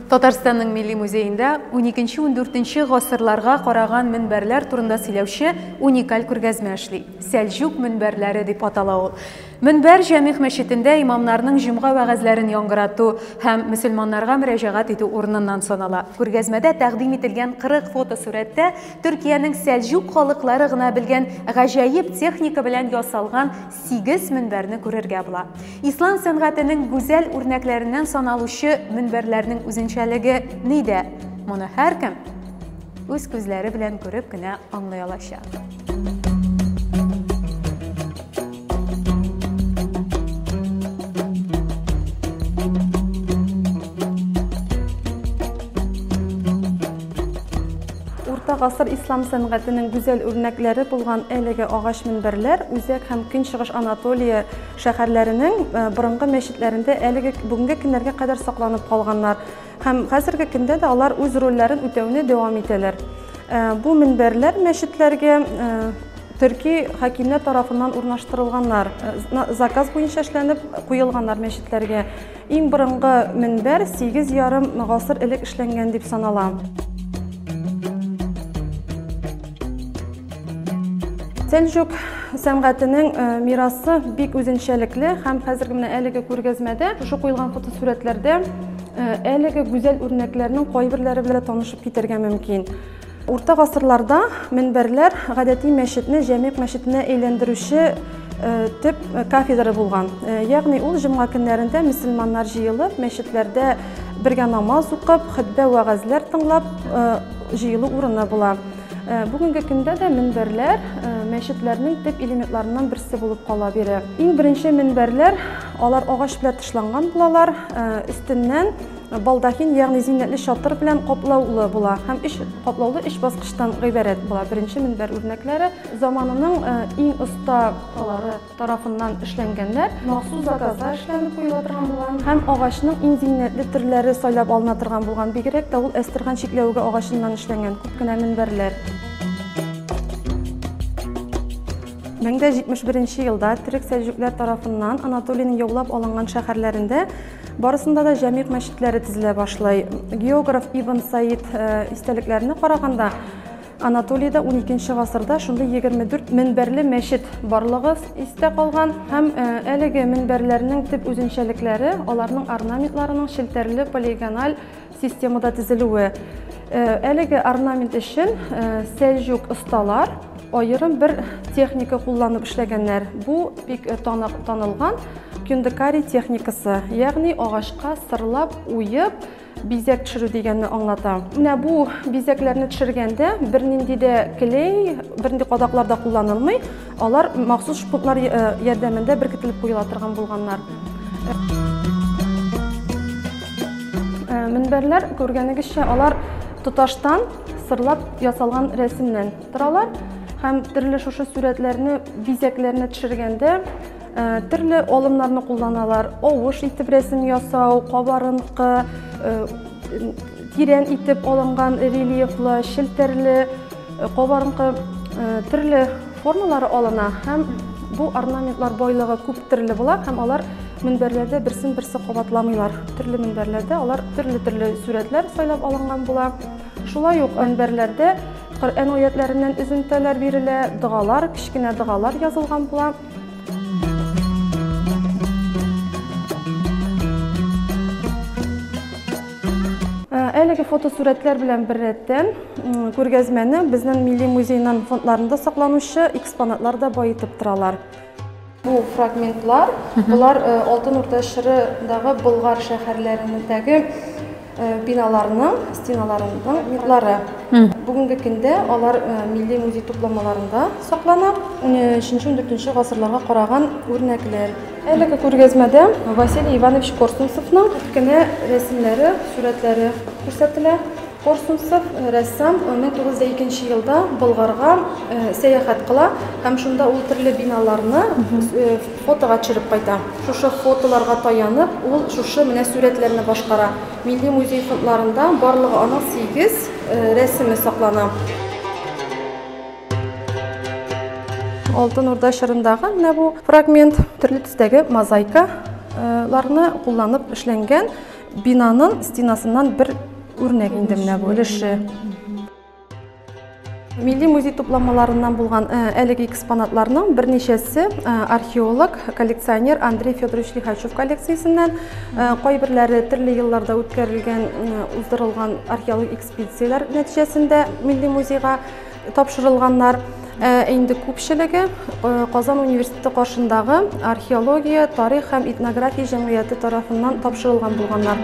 Татарстанның милли музеенда 12-14 гасырларга караган мөнбәрләр турында сөйләүче уникаль күргәзмә эшли. Сәлҗүк мөнбәрләре дип атала ул. Мөнбәр Җәмигъ мәчетендә имамнарның җомга вәгазьләрен яңгырату һәм мөселманнарга мөрәҗәгать итү урыныннан санала. Күргәзмәдә тәкъдим ителгән 40 фотосурәттә Төркиянең сәлҗүк халыклары гына белгән гаҗәеп техника белән ясалган сигез мөнбәрне күрергә була. Ислам сәнгатенең гүзәл үрнәкләреннән саналучы мөнбәрләрнең үзенчәлеге нидә, моны һәркем үз күзләре белән күреп кенә аңлый алачак. гасыр ислам сәнгатенең гүзәл үрнәкләре булган әлеге агач мөнбәрләр Үзәк һәм Көнчыгыш Анатолия шәһәрләренең э, борынгы мәчетләрендә әлеге бүгенге көннәргә кадәр сакланып калганнар. Һәм хәзерге көндә дә алар үз рольләрен үтәүне дәвам итәләр. Э, бу мөнбәрләр мәчетләргә э, төрки хакимнәр тарафыннан урнаштырылганнар, э, заказ буенча эшләнеп куелганнар мәчетләргә. Иң борынгы мөнбәр 8 ярым гасыр элек эшләнгән дип санала. Сәлҗүк сәнгатенең э, мирасы бик үзенчәлекле һәм хәзерге менә әлеге күргәзмәдә шушы куелган фотосурәтләрдә э, әлеге гүзәл үрнәкләрнең кайберләре белән танышып китәргә мөмкин. Урта гасырларда мөнбәрләр гадәти мәчетне җәмигъ мәчетенә әйләндерүче Э, төп э, кафедра булган. Э, ягъни ул җомга көннәрендә мөселманнар җыелып, мәчетләрдә бергә намаз укып, хөтбә вәгазьләр тыңлап җыелу урыны була. Бүгенге көндә дә мөнбәрләр мәчетләрнең төп элементларыннан берсе булып кала бирә. Иң беренче мөнбәрләр алар агач белән тышланган булалар, өстеннән Балдахин, ягъни зиннәтле чатыр белән каплаулы була һәм өч каплаулы өч баскычтан гыйбарәт була. Беренче мөнбәр үрнәкләре заманының э, иң оста калары тарафыннан эшләнгәннәр, махсус заказлар эшләнеп куела торган булган һәм агачның иң зиннәтле төрләре сайлап алына торган булган. Бигрәк тә ул әстерхан чикләвеге агачыннан эшләнгән күп кенә мөнбәрләр. 1071 елда төрек сәлҗүкләр тарафыннан Анатолийның яулап алынган шәһәрләрендә Барысында да җәмигъ мәчетләре тезелә башлый. Географ Ибн Саид э, истәлекләренә караганда, Анатолиядә 12 гасырда шундый 24 минбәрле мәчет барлыгы истә калган һәм э, әлеге минбәрләрнең төп үзенчәлекләре аларның орнаментларының челтәрле полигональ Системада төзелүе. Әлеге орнамент өчен сәлҗүк осталар аерым бер техника кулланып эшләгәннәр. Бу бик танылган кюндекари техникасы, ягъни агачка сырлап уеп бизәк төшерү дигәнне аңлата. Менә бу бизәкләрне төшергәндә бернинди дә клей, бернинди кадаклар да кулланылмый. Алар махсус шпунтлар ярдәмендә беркетелеп куела торган булганнар. Мөнбәрләр, күргәнегезчә, алар тоташтан сырлап ясалган рәсемнән торалар һәм төрле шушы сурәтләрне, бизәкләрне төшергәндә төрле алымнарны кулланалар. Авыш итеп рәсем ясау, кабарынкы, Тирән итеп алынган рельефлы, челтәрле, кабарынкы төрле формалары алына һәм бу орнаментлар байлыгы күп төрле була һәм алар мөнбәрләрдә берсен берсе кабатламыйлар. Төрле мөнбәрләрдә алар төрле-төрле сурәтләр сайлап алынган була. Шулай ук мөнбәрләрдә Коръән аятләреннән үзентәләр бирелә, догалар, кечкенә догалар язылган була. Әлеге фотосурәтләр белән бер рәттән күргәзмәне безнең милли музейның фондларында сакланучы экспонатлар да баетып торалар. Бу фрагментлар, болар Алтын Урда чорындагы Болгар шәһәрләрендәге Биналарның стеналарының мифлары. Бүгенге көндә алар милли музей тупламаларында саклана. 13-14 гасырларга караган үрнәкләр. Әлеге күргәзмәдә Василий Иванович Корсунцевның кенә рәсемнәре, сурәтләре күрсәтелә. Корсунцев рәссам 1902 елда Болгарга сәяхәт кыла һәм шунда ул төрле биналарны Фотога төшереп кайта. Шушы фотоларга таянып, ул шушы менә сурәтләрне башкара. Милли музей фондларында барлыгы аның сигез рәсеме саклана. Алтын Урда чорындагы менә бу фрагмент төрле төстәге мозаикаларны кулланып эшләнгән бинаның стенасыннан бер үрнәк инде менә бу өлеше. Милли музей тупламаларыннан булган э, әлеге экспонатларның берничәсе э, археолог, коллекционер Андрей Федорович Лихачев коллекциясеннән, э, кайберләре төрле елларда үткәрелгән, уздырылган археологик экспедицияләр нәтиҗәсендә милли музейга тапшырылганнар. Ә инде күпчелеге Казан университеты каршындагы археология, тарих һәм этнография җәмгыяте тарафыннан тапшырылган булганнар.